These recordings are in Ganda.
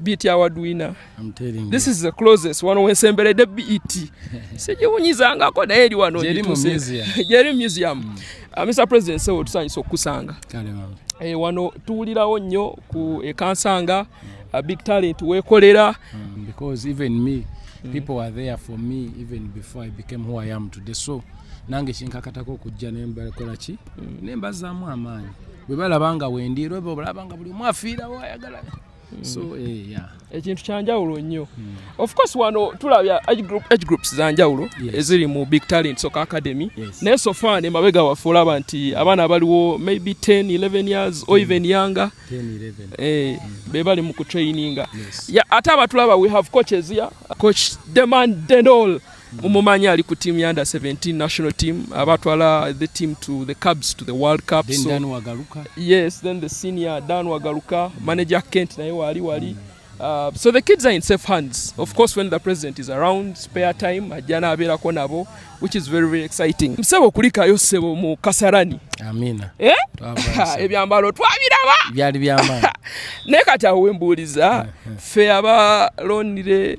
beat award winner I'm telling you. this is the closest wano wensemberedde beat sigiwunyizangako naye eri wano jeri museum mm. uh, mr president sewo tusanyisa okukusanga e, wano tuwulirawo nnyo ku ekansanga mm. a big talent wekolera mm, because even me mm. people were there for me even before i became who i am today so nange kinkakatako okujja nembakolaki mm. nembazaamu amaanyi bwe balaba nga wendi era bwe balaba nga buli omu afiirawo ayagala hmm. so eh, yeah. ekintu kyanjawulo nnyo hmm. of course wano tulabya age groups zanjawulo eziri mu big talent soka academy naye sofa ne mabega waffe olaba nti abaana abaliwo maybe 10 11 years or hmm. even younger eh, hmm. be bali mu kutraininga ate abatulaba we have coaches ya coach demand dendol mumumanyi ali ku team ya under 17 national team aba twala the team to the cubs to the world cup then so, dan wagaluka yes then the senior dan wagaluka mm. manager kent naye wali wali mm. Uh, so the kids are in safe hands of course when the president is around spare time ajana abeerako nabo which is very very exciting msebo kulikayo sebo mu kasarani amina eh? ebyambalo twabiraba byali byama naye kati awo wembuuliza mm, mm. fe abalonire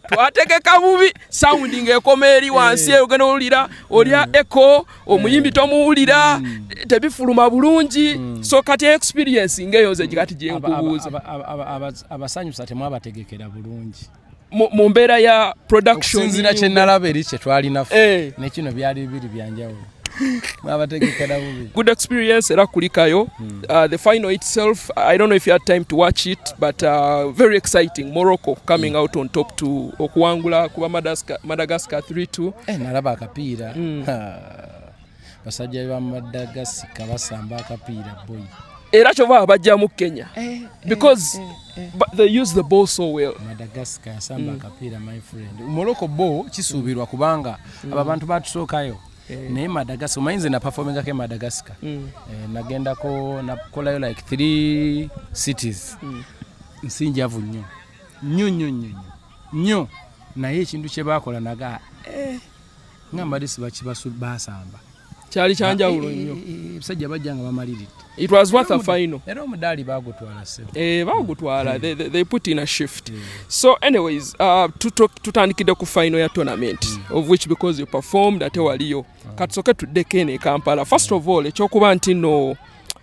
twategeka bubi sound ng'ekoma eri eh. wansi eyo ogenda owulira olya mm. eco omuyimbi eh. tomuwulira mm. tebifuluma bulungi mm. so kati experience ng'eyo nze kati gyenkubuuza abasanyusa temwabategekera bulungi mu mbeera ya productionsinzira kyenalaba eri kyetwalinafe eh. nekino byali bibiri byanjawulo good experience era kulikayo hmm. uh, the final itself i don't know if you had time to watch it but uh, very exciting morocco coming mm. out on top to okuwangula kuba madagascar, madagascar 32 eh, nalaba akapiira mm. basajja ba madagasika basamba akapiira boy era kyova bajjamu kenya eh, eh, because eh, they use the ball so well madagascar asamba mm. akapiira my friend morocco bo kisuubirwa kubanga mm. mm. abo abantu batusookayo eh. naye madagascar omanyi nze naperfomingako emadagascar mm. eh, nagendako nakolayo like three cities mm. nsinjavu nnyo nnyo nnyo nnyo nnyo naye ekintu kyebakola naga eh, nga mbadde sibakibasubasamba kyali kyanjawulo eh, eh, nnyo eh, ebisajja bajja nga bamaliridde it was worth a final era omudaali bagutwala sebo eh bagutwala they, they, they put in a shift yeah. so anyways uh, tutandikidde ku final ya tournament mm. of which because you performed ate waliyo ah. katusoke tuddeko eno e kampala first of all ekyokuba nti no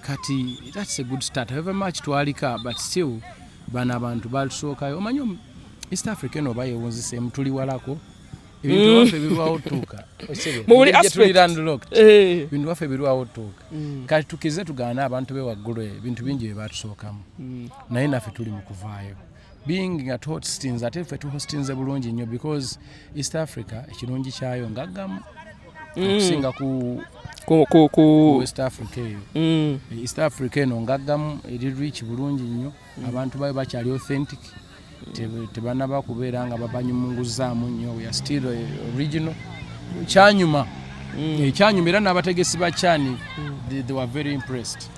kati that's a good start however much twalika but still bano abantu batusookayo omanyi east africa eno oba yewunziseemu tuli walako ebintu mm. waffe birwawo tuuka ebintu waffe birwawo tuuka kati tukize tugaana abantu be waggulu ebintu bingi bye batusookamu mm. naye naffe tuli mu kuvaayo being nga tohostinze ate ffe tuhostinze bulungi nnyo because east africa ekirungi kyayo ngaggamu mm. okusinga ku west africa eyo mm. east africa eno ngaggamu eri rich bulungi nnyo mm. abantu bayo bakyali authentic tebanaba kubeera nga babanyumunguzaamu nnyo weare still eh, original kyanyuma ekyanyuma era n'abategesi ba cani they were very impressed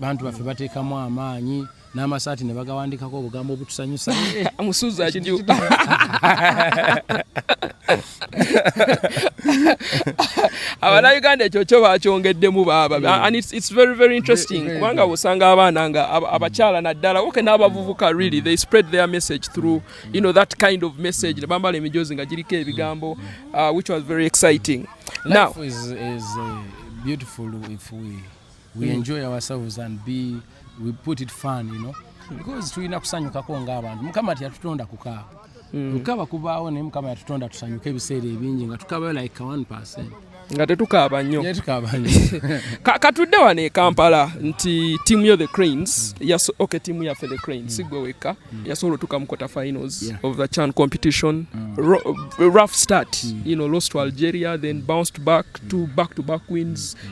bantu baffe bateekamu amaanyi n'amasaati ne bagawandikako obugambo obutusanyusa musuza jju abana uganda ekyo kyo bakyongeddemu baaba mm. and it's, it's very very interesting kubanga osanga abaana nga abakyala naddala oke n'abavubuka really they spread their message through you know that kind of message ne bambala emijoozi nga giriko ebigambo uh, which was very exciting now is, is, uh, beautiful if we we enjoy ourselves and be we put it fun you know because tulina kusanyukako ng'abantu mukama teyatutonda kukaaba mm. okukaba kubaawo naye mukama yatutonda tusanyuke ebiseera ebingi nga tukabayo like one percent nga tetukaaba nnyo katudde wano e kampala nti tiimu yo the cranes mm. yaso, okay tiimu yaffe the cranes mm. sigwe wekka mm. yasobola otuuka mu quarter finals yeah. of the chan competition mm. Ro, rough start mm. you know, lost to algeria then bounced back mm. to back to back wins mm.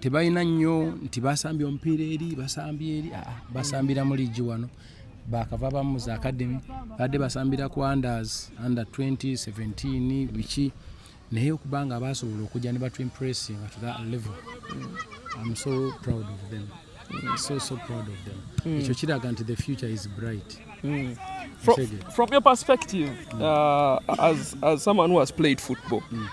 tebalina nnyo nti basambye omupiira eri basambye eri ah, ah, basambira mu liigi wano bakava bamu za academy badde basambira ku anders under 2017 biki naye okuba nga basobola okujja ne batu impressing to that level I'm so proud of them Mm, so, so proud of them. Mm. Ekyo kiraga nti the future is bright. Mm. From, from your perspective, mm. uh, as, as someone who has played football, mm.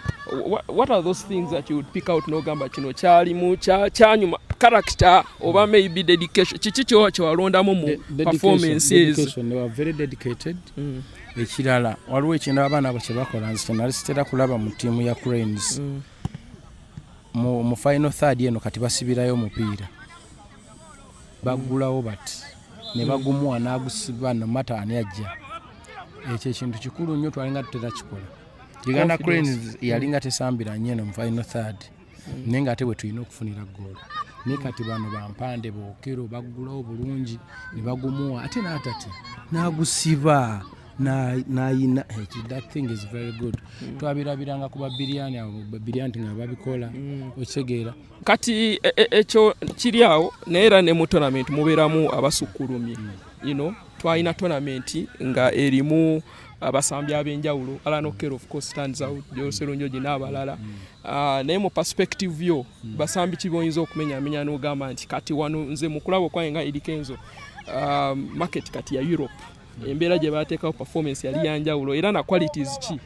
what, what are those things that you would pick out n'ogamba kino kyalimu kyanyuma character oba mm. maybe dedication kiki kyowa kyewalondamu mu performance ezo very dedicated mm. ekirala waliwo ekintu abaana abo kyebakola nze kyenali sitera kulaba mu tiimu ya cranes mm. mu, mu final third eno kati basibirayo omupiira baggulawo bati ne bagumuwa n'agusiba no mata ani ajja ekyo ekintu kikulu nnyo twalinga tuterakikola uganda cranes yalinga tesambira nnyo eno mu final third mm. naye nga ate bwe tulina okufunira goolo naye kati bano bampande bookero baggulawo bulungi ne bagumuwa ate n'atatya n'agusiba nayina that thing is very good mm. twabirabiranga ku babiriyani abo babiriyani nga babikola mm. okitegeera kati e, e, ekyo kiri awo naye era ne mu tonament mubeeramu abasukkulumye mm. you know twalina tonament nga erimu abasambi ab'enjawulo alan oker of course stands out joselunjoji n'abalala mm. ah, naye mu perspective yo mm. basambi ki boyinza okumenyamenya n'ogamba nti kati wano nze mu kulaba okwange nga edikenzo ah, market kati ya europe embeera gye baateekawo performance yali yanjawulo era na qualities ki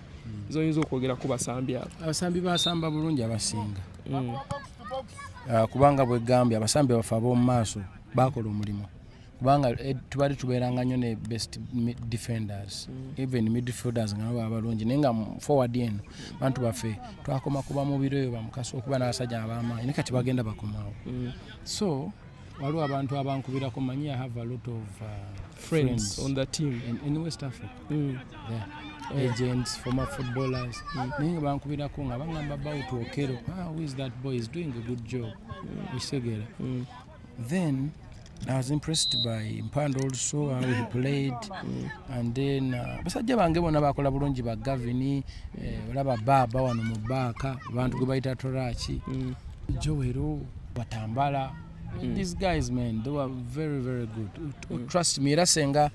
zoyinza okwogera ku basambi abo abasambi basamba bulungi abasinga mm. ah, kubanga bwegambye abasambi baffe ab'omu maaso bakola omulimu kubanga eh, tubali tubeeranga nnyo ne best defenders mm. even midfielders nga baba balungi naye nga forward eno bantu baffe twakoma kuba mubiro eyo bamukasa okuba n'abasajja ab'amaanyi ne kati bagenda bakomawo mm. so waliwo abantu abankubirako manyi i have a lot of uh, friends, friends on the team in, in west africa mm. yeah. Oh. agents former footballers mm. naye nga bankubirako nga bangamba about okero ah, who is that boy is doing a good job mm. isegera mm. then I was impressed by Mpando also how he played mm. and then uh, basajja bange bona bakola bulungi ba Gavin eh, olaba baba wano mu baaka abantu gwe bayita Toraki mm. Joero batambala mm. these guys man they were very very good mm. trust me era senga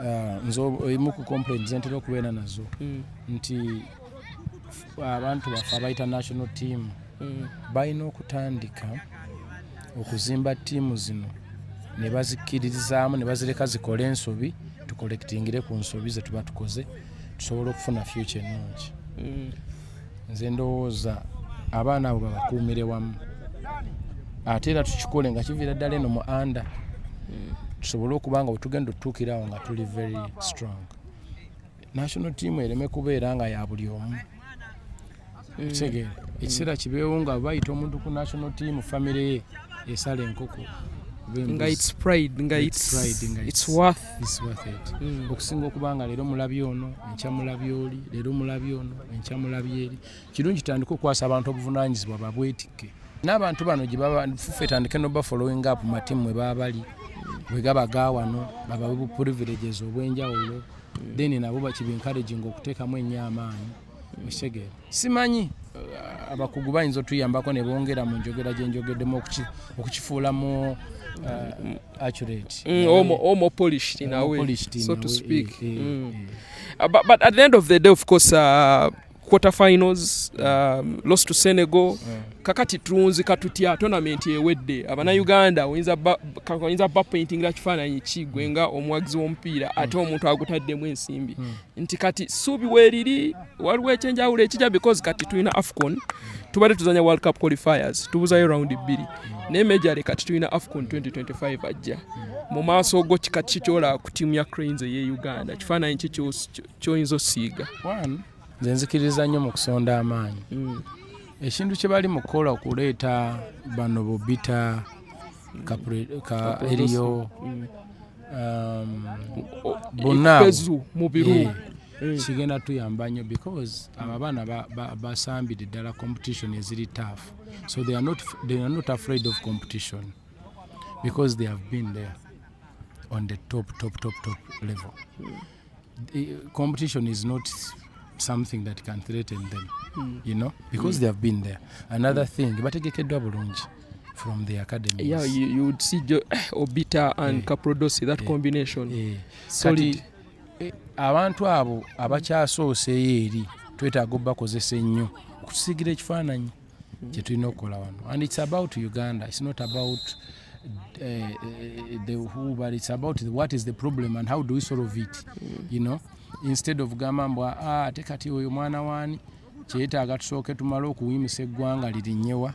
uh, nze emu ku complaints ntera okubeera nazo mm. nti abantu baffe abayita national team mm. balina okutandika okuzimba tiimu zino ne bazikkiririzaamu ne bazireka zikole ensobi tukolekitingire ku nsobi ze tuba tukoze tusobola okufuna fyuca ennungi mm. nze ndowooza abaana abo babakuumire wamu ate era tukikole nga kiviira ddala eno mu anda hmm. tusobole okuba nga wetugenda otutuukira awo nga tuli very strong national team ereme kubeera nga ya buli omu hmm. kitegeera ekiseera kibeewo nga bayita omuntu ku national team famire ye esala enkoko nga its pride nga its, its, its, its, its worth hmm. okusinga okuba nga leero mulabi ono enkya mulabi oli leero mulabi ono enkya mulabi eri kirungi tutandike okukwasa abantu obuvunanyizibwa babwetikke n'abantu bano gyebafufe tandike noba following up matimu mwe baba bali bwe gaba gawano babawe bu privileges obwenjawulo hmm. then nabo bakibi encouraging okuteekamu ennyo amaanyi ekitegeera simanyi uh, abakugu bayinza otuyambako ne bongera mu njogera gye njogeddemu okukifuula mu uh, accurate mm, omo polished in a way so to speak eh, eh, mm. eh. Uh, but at the end of the day of course uh, quarter finals um, lost to senegal yeah. kakati tulunzika tutya tonamenti ewedde abanauganda oyinza bapaintingira kifaananyi kigwe nga omuwagizi w'omupiira ate omuntu agutaddemu ensimbi hmm. nti kati suubi weeriri waliwo ekyenjawulo ekija because kati tulina afcon tubadde tuzanya world cup qualifiers tubuzayo round bbiri naye mejale kati tulina afcon 2025 ajja mu maaso go kika kikyolaba ku tiimu ya cranes eye uganda kifaananyi ki kyoyinza osiiga nze nzikiriza nnyo mu kusonda amaanyi mm. ekintu kye bali mu kukola okuleeta bano bobita ka eriyo mm. um, bonna mu biru eh, eh. kigenda tuyamba nnyo because abo abaana basambidde ddala competition eziri tough so they are not, they are not afraid of competition because they have been there on the top top top top level mm. competition is not something that can threaten them mm. you know because mm. they have been there another mm. thing bategekeddwa bulungi from the academy yeah you, you would see jo, eh, obita and yeah. caprodosi that yeah. combination yeah. sorry Kati, eh, abantu abo abakyasoose eri twetaaga obakozesa ennyo okusigira ekifaananyi mm-hmm. kyetulina okukola wano and its about uganda its not about uh, uh, the who but its about the, what is the problem and how do we solve it mm-hmm. you know instead of gamba mbu ah, ate kati oyo mwana wani kyetaaga tusooke tumale okuwimisa eggwanga lirinyewa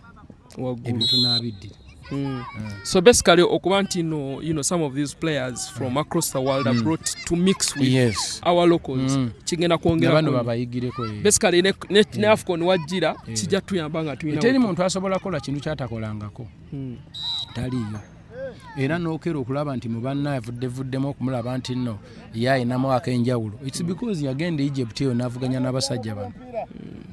ebyo tunaabiddira Mm. Mm. So basically okuba nti no, you know, some of these players from mm. across the world mm. are brought to mix with yes. our locals mm. kigenda kwongera basically ne, ne, yeah. ne afcon wajjira yeah. kijja tuyamba nga tulina teri muntu asobola kola kintu kyatakolangako mm. taliyo era nokera okulaba nti mubanna avuddevuddemu okumulaba nti no ye ayinamu akenjawulo its because yagenda egypt eyo navuganya n'abasajja bano mm.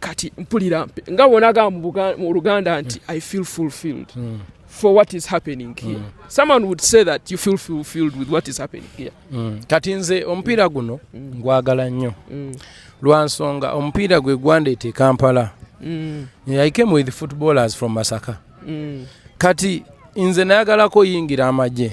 kati mpulira mpe nga wonaga mu luganda nti i feel fulfilled mm. for what is happening here mm. someone would say that you feel fulfilled with what is happening here mm. kati nze omupiira guno mm. ngwagala nnyo mm. lwansonga omupiira gwe gwandeeta ekampala mm. i came with footballers from masaka mm. kati nze nayagalako yingira amagye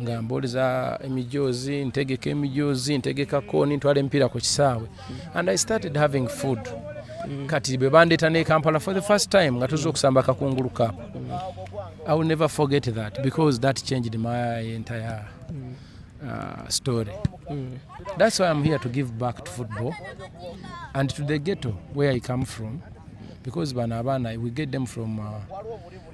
nga mboleza emijoozi ntegeka emijoozi ntegeka kooni ntwala emipiira ku kisaawe and i started having food mm. kati bwe bandeeta ne kampala for the first time nga tuza okusamba akakungulu kap mm. i will never forget that because that changed my entire mm. uh, story mm. that's why i'm here to give back to football and to the ghetto where i come from because bano abaana we get them from uh,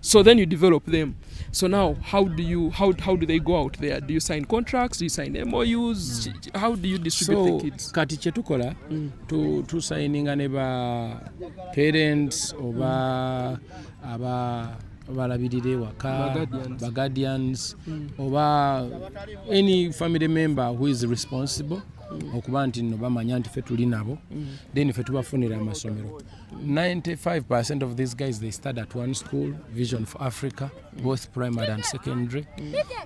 so then you develop them so now how do you how, how do they go out there do you sign contracts do you sign MOUs how do you distribute so, the kids kati kyetukola mm. tu, tu signinga ne ba parents oba mm. aba balabirira ewaka baguardians mm. oba any family member who is responsible mm. okuba nti no bamanya nti fe tuli nabo mm. then fe tubafunira amasomero 95% of these guys they study at one school vision for africa both primary and secondary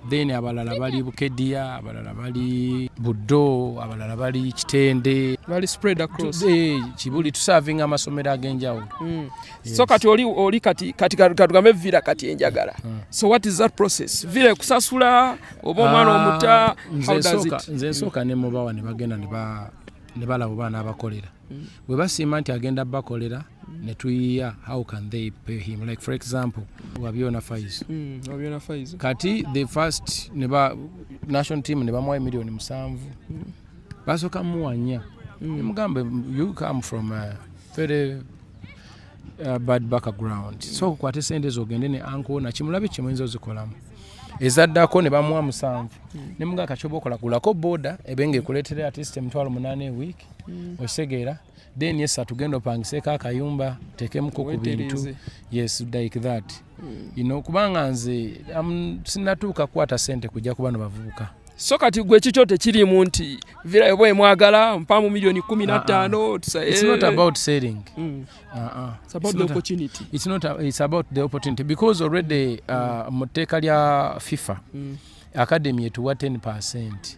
then abalala bali bukedia abalala bali buddo abalala bali kitende bali spread across eh kibuli to serving amasomero agenjawo mm. yes. so kati oli oli kati kati katugambe vira kati enjagala mm. so what is that process vira kusasula obo mwana ah, omuta how does it nze soka ne mubawa ne bagenda ne ba ne balabo bana abakolera mm. bwe basiima nti agenda bakolera mm. ne tuyiya how can they pay him like for example wabyona faizo mm, wabyona faizo kati the first ne ba national team ne bamuwa emiliyoni musanvu mm. basooka muwanya mm. nemugambe you come from a very uh, bad background so okukwata esente ezo ogende ne anko nakimulabe kimuyinza ozikolamu ezaddako ne bamuwa musanvu hmm. ne mga kacoba okola kulako boda ebe nga ekuleetera atist emitwalo munaana ewiiki mm. okitegeera then yesa tugenda opangiseeko akayumba tekemuko ku bintu yes like that mm. you know kubanga nze um, sinatuuka kukwata sente kujja ku bano bavubuka so kati gwe kikyo tekirimu nti virayo bwe mwagala mpamu milioni kumi na ttaano because already uh, mm. mu tteeka lya fifa mm. academy etuwa 10 percent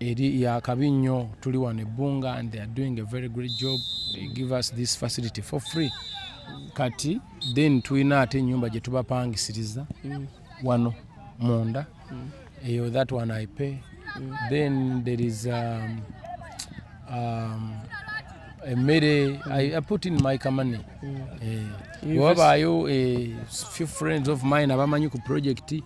eri yakabi nnyo tuli wano ebbunga and they are doing a very great job they give us this facility for free kati then tulina ate enyumba gyetubapangisiriza mm. wano munda mm. eyo that one i pay mm. then there is um, um, emmere mm. I, i put in my kamane mm. eh, wabaayo eh, few friends of mine abamanyi ku project mm.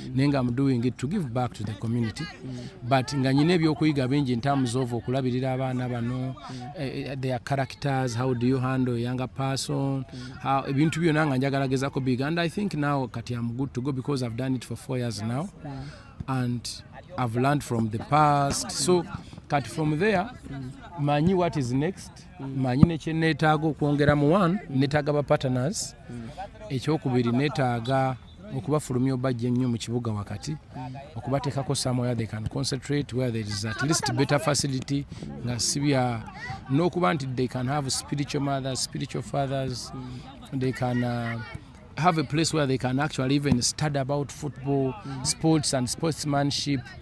mm. naye nga am doing it to give back to the community mm. but nga nyina ebyokuyiga bingi ntamuza ova okulabirira abaana bano mm. eh, eh, their characters how do you handle younger person mm. ebintu mm. byona nga njagala gezako big and i think now kati am good to go because i've done it for four years now mm. and i've learned from the past so kati from there mm. manyi what is next mm. manyi nekyenetaaga okwongera mu one mm. netaaga ba partners mm. ekyokubiri netaaga okubafulumya obajja ennyo mu kibuga wakati okubateekako somewhere they can concentrate where there is at least better facility nga sibya n'okuba nti they can have spiritual mothers spiritual fathers they can uh, have a place where they can actually even study about football sports and sportsmanship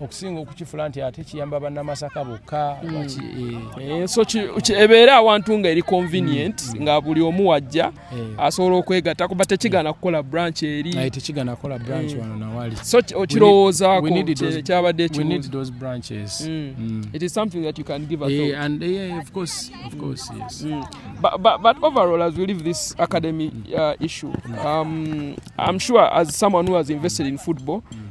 okusinga okukifula nti ate kiyamba bannamasaka bokka hmm. eh. Eh, so ebeera awantu nga eri convenient hmm. nga buli omu wajja eh. asobola okwegatta kuba tekigana kukola branch eri so okirowoozaako kyabadde but overall as we leave this academy uh, issue um, i'm sure as someone who has invested in football mm.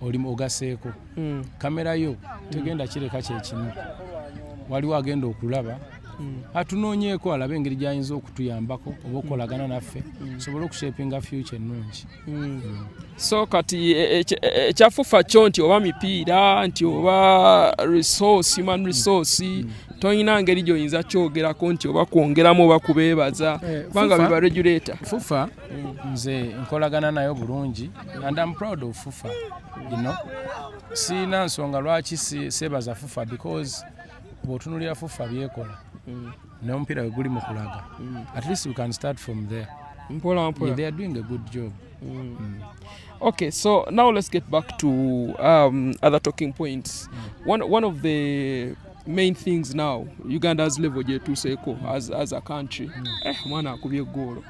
oli ogaseeko hmm. kamera yo hmm. tegenda kireka kyekimu waliwo agenda okulaba hmm. atunoonyeeko alabe engeri gyayinza okutuyambako oba okukolagana naffe sobole okushepinga future ennungi so kati e, e, e, ekyafufa kyo nti oba mipiira nti oba resource human resource tolina ngeri gyoyinza kyogerako nti oba kwongeramu oba kubeebaza eh, kubanga biba regulator fufa nze nkolagana nayo bulungi and am proud of fufa you know siina nsonga lwaki sebaza fufa because bwotunulira fufa byekola mm. nomupiira weguli mukulaga mm. at least we can start from there mpola mpola yeah, they are doing a good job mm. Mm. okay so now let's get back to um, other talking points mm. one, one of the main things now uganda has level gyetuseeko as, as a country mm. eh, mwana akubye egoolo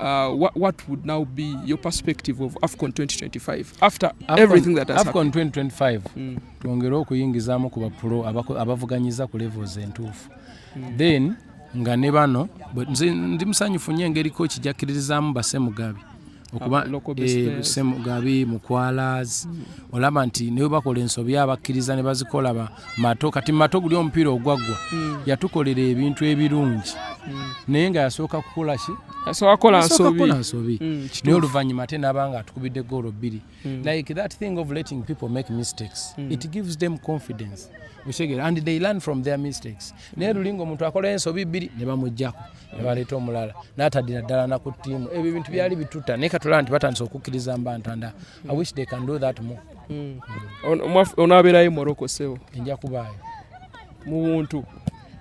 Uh, what, what would now be your perspective of AFCON 2025 after Afcon, everything that has AFCON 2025 mm. twongere okuyingizamu ku bapro abavuganyiza ku levels entuufu mm. then nga ne bano ndi musanyufu nyo engeri ko kijakiririzaamu basemugabi okuba ah, eh, semugabi mukwalas mm. olaba nti naye bakola ensobi abakkiriza ne bazikola ba mato kati mato guli omupiira ogwaggwa hmm. yatukolera ebintu ebirungi hmm. naye nga yasooka kukola ki akola nsobi hmm, naye oluvannyuma ate naaba nga atukubidde goolo bbiri like that thing of letting people make mistakes it gives them confidence okitegera and they learn from their mistakes naye lulinga omuntu akola ensobi bbiri ne bamuggyako nebaleeta omulala natadira ddala naku ttiimu ebyo ebintu byali bituta naye katulaba nti batandise okukkiriza mba ntanda i wish they can do that more hmm. onabeerayo morocco sebo enja kubaayo mu buntu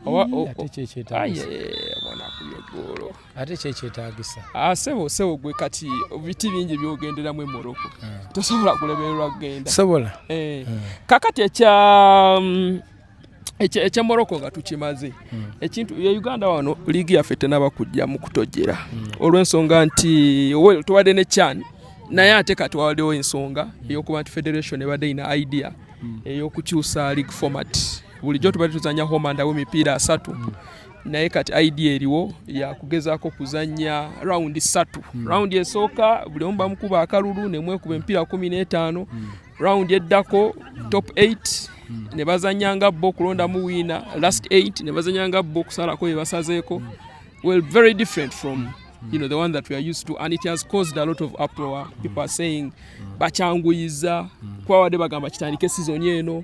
ate kyekyetagisa ate kyekyetagisa ah, sebo sebo gwe kati biti bingi byogenderamu emoroko hmm. tosobola kulemererwa kugenda sobola eh. hmm. kakati ekya mm, ekyemoroko nga tukimaze hmm. ekintu e uganda wano liigi yaffe tenaba kujja mu kutojera hmm. olw'ensonga nti tubadde ne chan naye ate kati wawaddewo ensonga hmm. eyokuba nti federation ebadde ina idea eyokukyusa league format bulijjo tubadde tuzanya homandawo emipiira asatu naye kati idea eriwo yakugezako kuzanya rawundi satu rawundi esooka buli omu bamukuba akalulu nemwekuba emipiira kumi n'etaano round eddako top 8 hmm. ne bazanya nga bo okulondamu wiina last 8 ne bazanya nga bo okusalako bye basazeeko hmm. well very different from you know the one that we are used to and it has caused a lot of uproar people are saying bakyanguyiza kuba wadde bagamba kitandike sizoni eno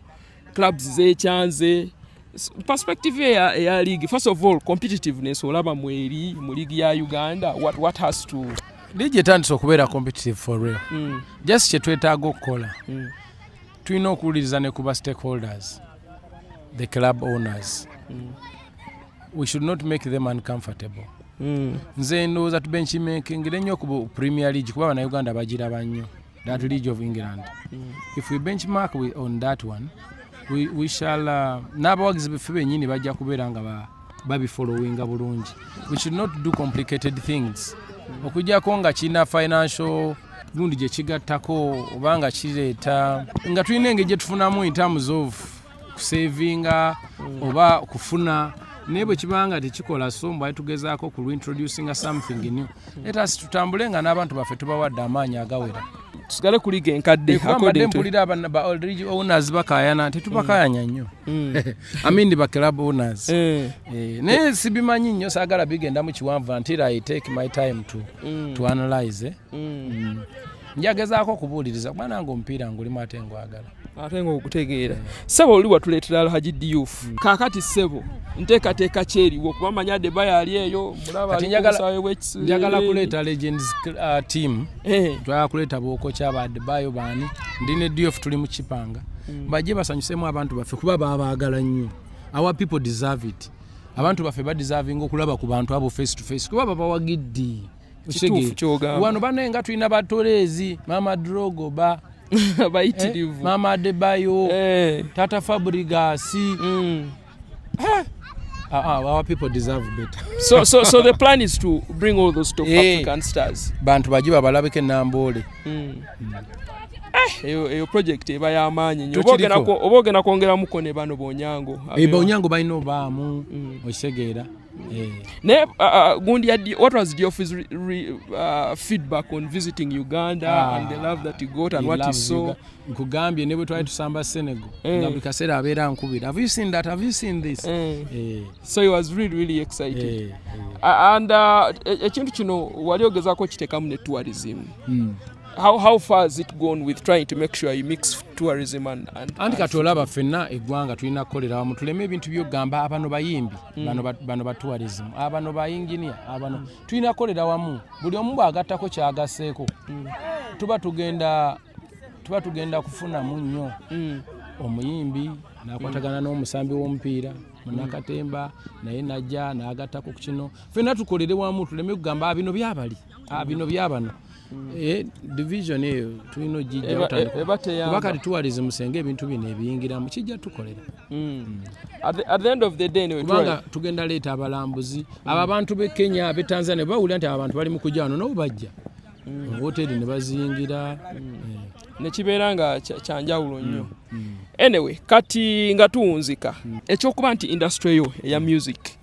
clubs zekyanze perspective eya, eya league first of all competitiveness olaba mweri mu league ya uganda what, what has to league etandise okubeera competitive for real mm. just kyetwetaaga okukola mm. tulina okuwuliriza ne kuba stakeholders the club owners mm. we should not make them uncomfortable mm. nze ndowooza tubenkimekengere nnyo ku premier league kuba banauganda bagiraba nnyo That League of England. Mm. If we benchmark we, on that one, we, we shall uh, n'abawagizi beffe bennyini bajja kubeera nga ba babifolowinga bulungi we should not do complicated things okujjako nga kirina financial lundi gye kigattako oba nga kireeta nga tulina engeri gye tufunamu in terms of kusevinga oba kufuna naye bwe kibanga tekikola so mbwali tugezaako ku reintroducinga something new letasi tutambule nga n'abantu baffe tubawadde amaanyi agawera tusigale kuliga enkadde mbadde mpulira ba oldridge owners bakayana tetubakayanya mm. nnyo mm. amindi ba club owners eh. Eh, naye sibimanyi nnyo saagala bigendamu kiwanvu until i take my time to, mm. to analyze eh. njagezaako okubuuliriza kuba nange omupiira ngulimu ate ngwagala ate nga okutegeera sebo oli watuleetera alhaji diyufu hmm. kakati sebo nteekateeka kyeriwo kuba manya deba yali eyo njagala kuleeta legends uh, team eh. twagala kuleeta bookokya ba debayo baani ndi ne diof tuli mu kipanga hmm. bajje basanyusemu abantu baffe kuba babaagala nnyo our people deserve it abantu baffe badeservinga okulaba ku bantu abo face to face kuba babawagiddi kituufu kyogamba wano banaye nga tulina batoleezi maama drogo ba bayitirivu eh, maama adebayo eh. tata fabrigasi mm. eh. Uh, uh, our people deserve better. so, so, so the plan is to bring all those top hey, eh. African stars. Bantu baji babalabike nambole. Mm. Mm. Eh, eyo, eyo project eba ya manyi. Nyo. Oboge na kuongera muko ne bano bonyango. Ebe eh, bonyango baino ba mu. Mm. Oisegera. Eh. naye uh, uh, gundi ya what was Diofi's re, re, uh, feedback on visiting Uganda ah, and the love that he got and he what he saw nkugambye ne bwe twali tusamba Senegal eh. nga buli kaseera abeera nkubira have you seen that have you seen this eh. Eh. so he was really really excited eh. Eh. and uh, ekintu kino wali ogezaako kitekamu ne tourism mm. How, how far has it gone with trying to make sure you mix tourism and, and anti kati olaba fenna eggwanga tulina kukolera wamu tuleme ebintu byogamba abano bayimbi mm. bano, bano ba tourism abano ba engineer abano mm. tulina kukolera wamu buli omu bwagattako kyagaseeko mm. tuba tugenda tuba tugenda kufunamu nnyo mm. omuyimbi nakwatagana n'omusambi w'omupiira munakatemba naye najja nagattako ku kino fenna tukolere wamu tuleme kugamba bino byabali ah, bino byabano hmm. eh, division eyo tulina ogijjakuba kati tuwalize musenga ebintu bino ebiyingiramu kijja tukolera hmm. kubanga tugenda leeta abalambuzi abo abantu be kenya be tanzania bawulira nti abantu bali mu kujano nabo bajja hmm. hoteri ne baziyingira eh. nekibeera nga kyanjawulo nnyo anyway kati nga tuwunzika ekyokuba nti industry yo eya music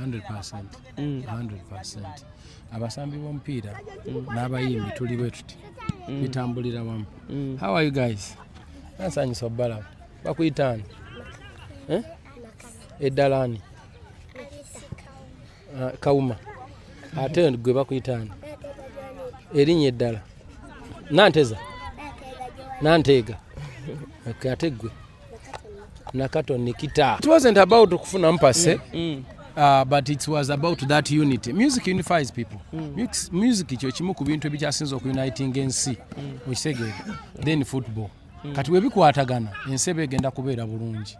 100%. Mm. 100%. abasambi b'omupiira mm. n'abayimbi tuli bwe tuti mm. bitambulira wamu mm. how are you guys ansanyusa obalaba bakuyitaani eh? eddalaani uh, ah, kawuma ate gwe bakuyitaani erinnya eddala nanteza nanteega ate gwe na Katon Nikita. It wasn't about kufuna mpase mm. mm. Uh, but it was about that unity music unifies people mm. music, music kyo kimu ku bintu ebikyasinza okuniting ensi mm. okitegeera then football mm. kati webikwatagana ensi eba egenda kubeera bulungi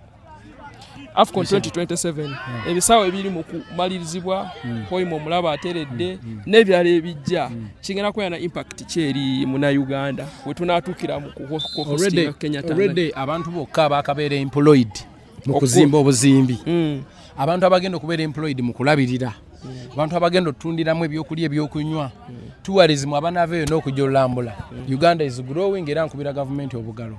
AFCON 2027 ebisaawe ebiri mu kumalirizibwa hmm. hoima omulaba ateredde hmm. hmm. n'ebirala ebijja kigenda kubeera na impact kyeri munauganda we tunaatuukira mu kukenyatalredy abantu bokka abakabeera employed mu kuzimba obuzimbi abantu abagenda okubeera employed mu kulabirira abantu abagenda otundiramu ebyokulya ebyokunywa tuwarizimu abanaava eyo n'okujja olulambula uganda is growing era nkubira gavumenti obugalo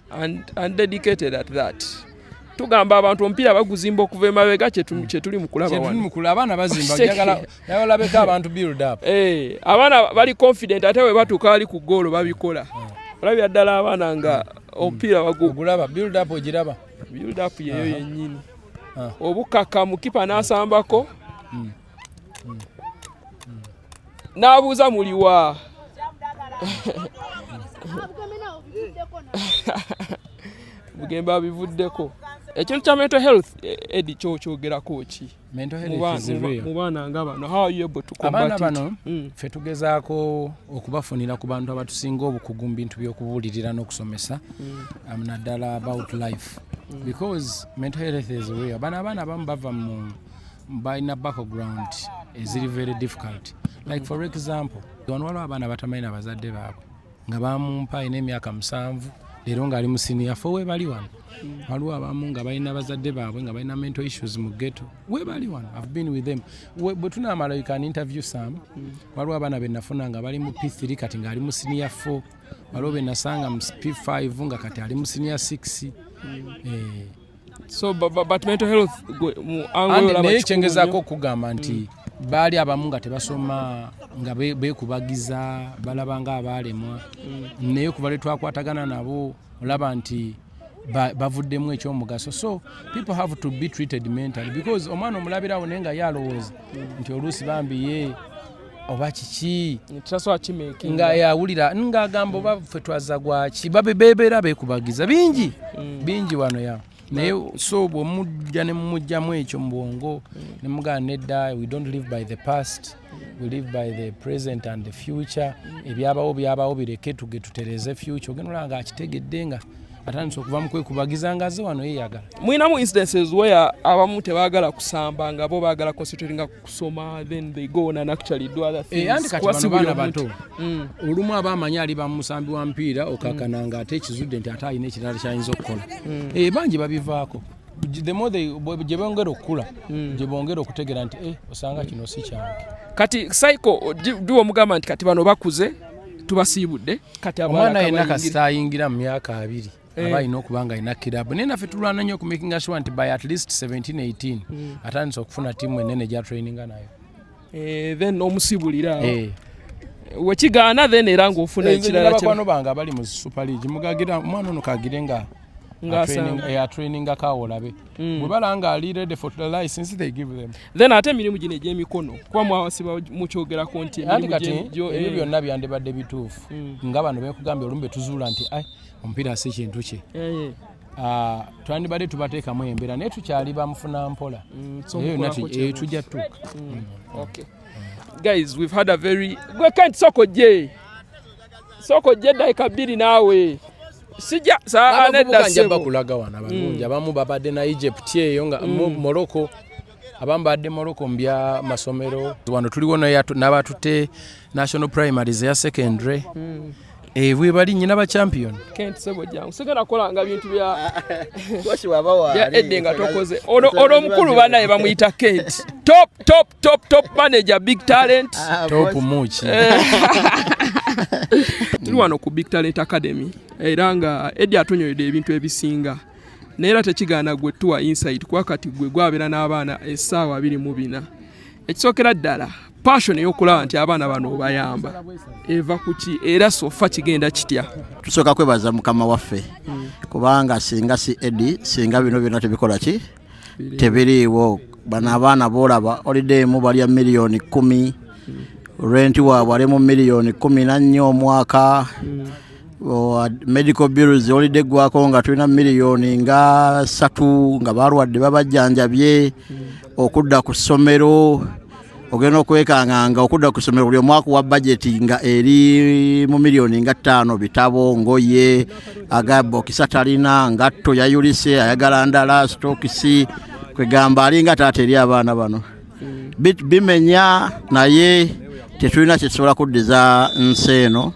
and, and dedicated at that tugamba abantu omupiira baguzimba okuva emabega kyetuli mukulaba abaana bazimbayagalabalabeko abantu build up eh, abaana bali confident ate bwe batuuka ali ku goolo babikola hmm. olabira ddala abaana nga hmm. omupiira bagulaba build up ogiraba build up yeyo yenyini ah. obukakamu kipa nasambako hmm. n'abuuza muliwa bugembe abivuddeko ekintu kya mental health eh, edi kyokyogerako ki mu baana nga bano abaana bano mm. fe tugezaako okubafunira ku bantu abatusinga obukugu mu bintu by'okubuulirira n'okusomesa mm. um, naddala about life mm. because mental health is real bano abaana abamu bava mu mm. balina background eziri very difficult like for example wano waliwo abaana batamanyi na bazadde baabwe nga bamumpa alina emyaka musanvu leero ng'ali mu siniya fo webali wano waliwo abamu nga balina bazadde baabwe nga balina mental issues mu geto webali wano i've been with them bwe tunaamala you can interview some waliwo abaana benafuna nga bali mu p3 kati ng'ali mu siniya 4 waliwo benasanga mu p5 nga kati ali mu siniya 6 eh. so but, but mental health naye kyengezaako okugamba nti mm. baali abamu nga tebasoma nga bekubagiza balaba nga abaalemwa mm. naye kuba lwe twakwatagana nabo olaba nti bavuddemu ekyomugaso so people have to be treated mentally because omwana omulabirawo naye nga ye alowooza nti oluusi bambi ye oba kiki nga yawulira ng'agamba oba ffe twaza gwaki bebeera bekubagiza bingi mm. bingi wano ya naye so bwemujja nemumujjamu ekyo mu bwongo mm. nemugana nedda we don't live by the past we live by the present and the future mm. ebyabawo byabawo bireke tuge tutereze future ogenda olaba nga akitegedde nga atandise okuva mu kwekubagiza nga aze wano yeyagala mulinamu instances where abamu tebagala kusamba nga bo bagala concentratinga kusoma then they go on and actually do other things eh, kati bano baana bato mm. olumu aba amanyi ali bamusambi wa mpiira okakana mm. nga ate ekizudde nti ate alina ekirala kyayinza okukola mm. eh, bangi babivaako the more they gye bongera okukula hmm. gye bongera okutegera nti eh, osanga kino si kyange kati cycle diwa omugamba nti kati bano bakuze tubasiibudde kati omwana yenna kasita ayingira mu myaka abiri eh. aba alina okuba nga alina kirabu naye naffe tulwana nnyo okumakinga sure nti by at least 1718 hmm. atandise okufuna tiimu enene gya traininga nayo eh, then omusibulira eh. wekigaana then era ngaofuna ekiralabakwano bange abali mu super league mugagira omwana ono kagire nga ngatraininingako awo olabe mm. bwebala nga ali ready for the license they give them then ate emirimu gino egyemikono kuba mwawasiba mukyogerako nti ebyo eh. byonna byandibadde bituufu mm. nga bano bekugambye olumbe tuzuula nti ai omupiira si kintu kye eh, eh. Ah, twandibadde tubateekamu embeera naye tukyali bamufuna mpola mm, eyo tujja tuuka guys we've had a very gwe kent soko je soko je daika bbiri naawe sijja saa nedda sebo bakulaga wana balungi mm. abamu babadde na Egypt eyo nga mm. Morocco abamu badde Morocco mbya masomero wano tuliwo n'abatute national primaries ya secondary mm. ebwe eh, bali nyina ba champion kent sebo jangu sigala kola nga bintu bya washi waba wa ya edde nga tokoze ono ono mukulu bana ye bamuyita kent top top top top manager big talent ah, top much eh. tuli wano ku big talent academy era nga edi atunyoyede ebintu ebisinga naye era tekigaana gwe tuwa inside kuba kati gwe gwabeera n'abaana essaawa abiri mu bina ekisookera ddala passion eyokulaba nti abaana bano obayamba eva kuki era sofa kigenda kitya tusooka kwebaza mukama waffe hmm. kubanga singa si edi singa bino byona tebikola ki tebiriiwo bano abaana boolaba olideemu balya miliyoni kumi renti waabwe ali mu miliyoni kumi nannya omwaka medical bills olidde eggwako nga tulina miliyoni nga satu nga balwadde babajjanjabye okudda ku ssomero ogenda okwekanganga okudda ku ssomero buli omwaka wa bajeti nga eri mu miliyoni nga ttaano bitabo ngoye agabokisa talina ngatto yayulise ayagala ndala sitokisi kwegamba alinga taata eri abaana bano bimenya naye tetulina kyetusobola kuddiza nsi eno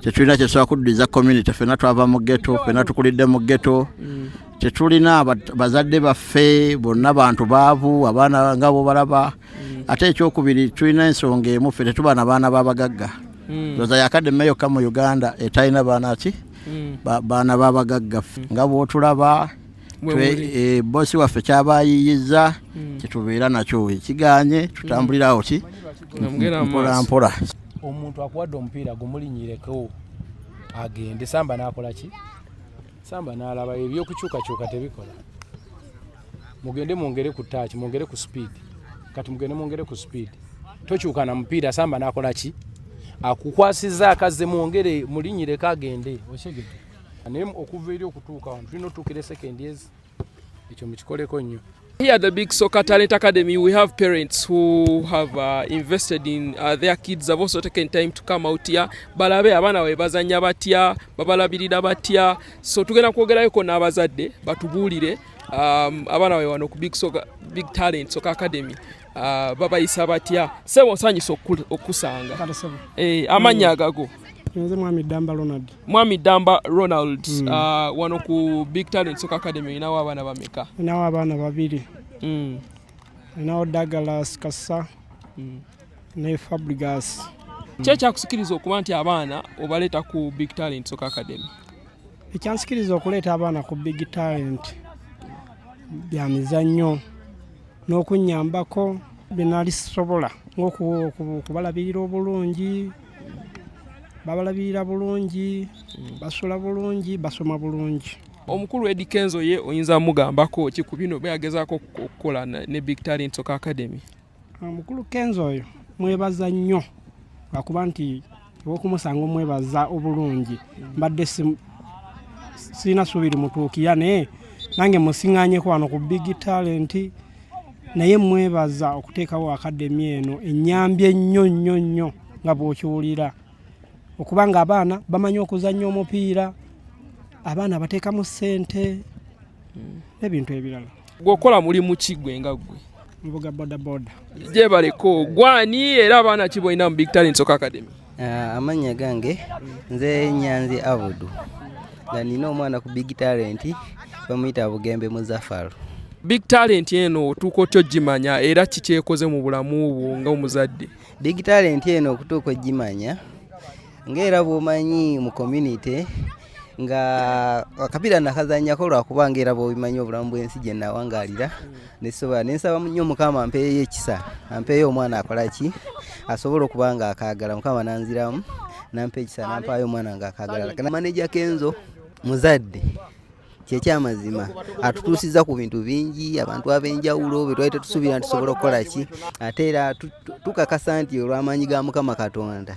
tetulina kyetusobola kuddiza community fena twava mu geto fena tukulidde mu geto mm. tetulina bazadde baffe bonna bantu baavu abaana nga bobalaba mm. ate ekyokubiri tulina ensonga emu ffe tetuba na baana babagagga mm. oza yakademe yokka mu uganda etalina baana ki mm. baana babagagga ffe nga bwotulaba eh, bosi waffe kyabayiyiza kyetubeera nakyo ekiganye tutambulirawo ki mpolampola omuntu akuwadde omupiira gumulinyireko agende samba nakolaki Samba n'alaba ebyokukyukakyuka tebikola. Mugende mwongere ku taaki, mwongere ku sipiidi. Kati mugende mwongere ku sipiidi. Tokyuka na mupiira, Samba n'akola ki? Akukwasizza akazze mwongere mulinyireko agende. Okyegedde. Naye okuva eri okutuuka wano tulina otuukira esekendi ezi. Ekyo mukikoleko nnyo. Here at the Big Soccer Talent Academy, we have parents who have uh, invested in uh, their kids have also taken time to come out here. Balabe abana we bazanya batia, babalabirira batia. So tugenda kwogerayo ko n'abazadde batubuulire um, abana we wano ku Big Soccer Big Talent Soccer Academy. Uh, babayisa batya sebo nsanyisa okusanga eh, amannya agago nze mwami damba ronald Mwami Damba Ronald mm. uh, wano ku Big Talent Soccer Academy inawo abaana bameka? Inawo abaana babiri mm. inawo Douglas Kasa mm. ne Fabregas mm. Kye kyakusikiriza okuba nti abaana obaleeta ku Big Talent Soccer Academy? Ekyansikiriza okuleeta abaana ku Big Talent bya mizannyo n'okunnyambako bye nali sisobola ng'okubalabirira obulungi babalabirira bulungi basula bulungi basoma bulungi omukulu edi kenzo ye oyinza mugambako ki ku bino beyagezako okukola ne big talent soka academy omukulu kenzo oyo mwebaza nnyo lwakuba nti ewokumusanga omwebaza obulungi mbadde sirina suubiri mutuukiya naye nange musiŋanyeko wano ku big talent naye mwebaza okuteekawo akademi eno ennyambye ennyo nnyo nnyo nga bw'okiwulira okuba nga abaana bamanyi okuzannya omupiira abaana bateekamu ssente hmm. n'ebintu ebirala gweokola mulimu ki gwe nga gwe mvuga bodaboda gyebaleko gwani era abaana ki bolina mu big talent soka academy Ah, amannya gange nze nyanzi abudu nga nina omwana ku big talent bamuyita bugembe muzafaru big talent eno otuuka otya ogimanya era kikyekoze mu bulamu bwo nga omuzadde big talent eno okutuuka ogimanya ngaera bwomanyi mu community nga akapira nakazanyako lwakuba nga era bwobimanyi obulamu bwensi gye nawangalira mm. nesobola nensaba nnyo mukama ampeeyo ekisa ampeeyo omwana akolaki asobola okuba nga akagala mukama nanziramu nampa ekisa nampaayo omwana nga akagala maneja kenzo muzadde kyekyamazima atutuusiza ku bintu bingi abantu ab'enjawulo bye twali tetusuubira nti tusobola okukola ki ate era tukakasa nti olw'amaanyi ga mukama katonda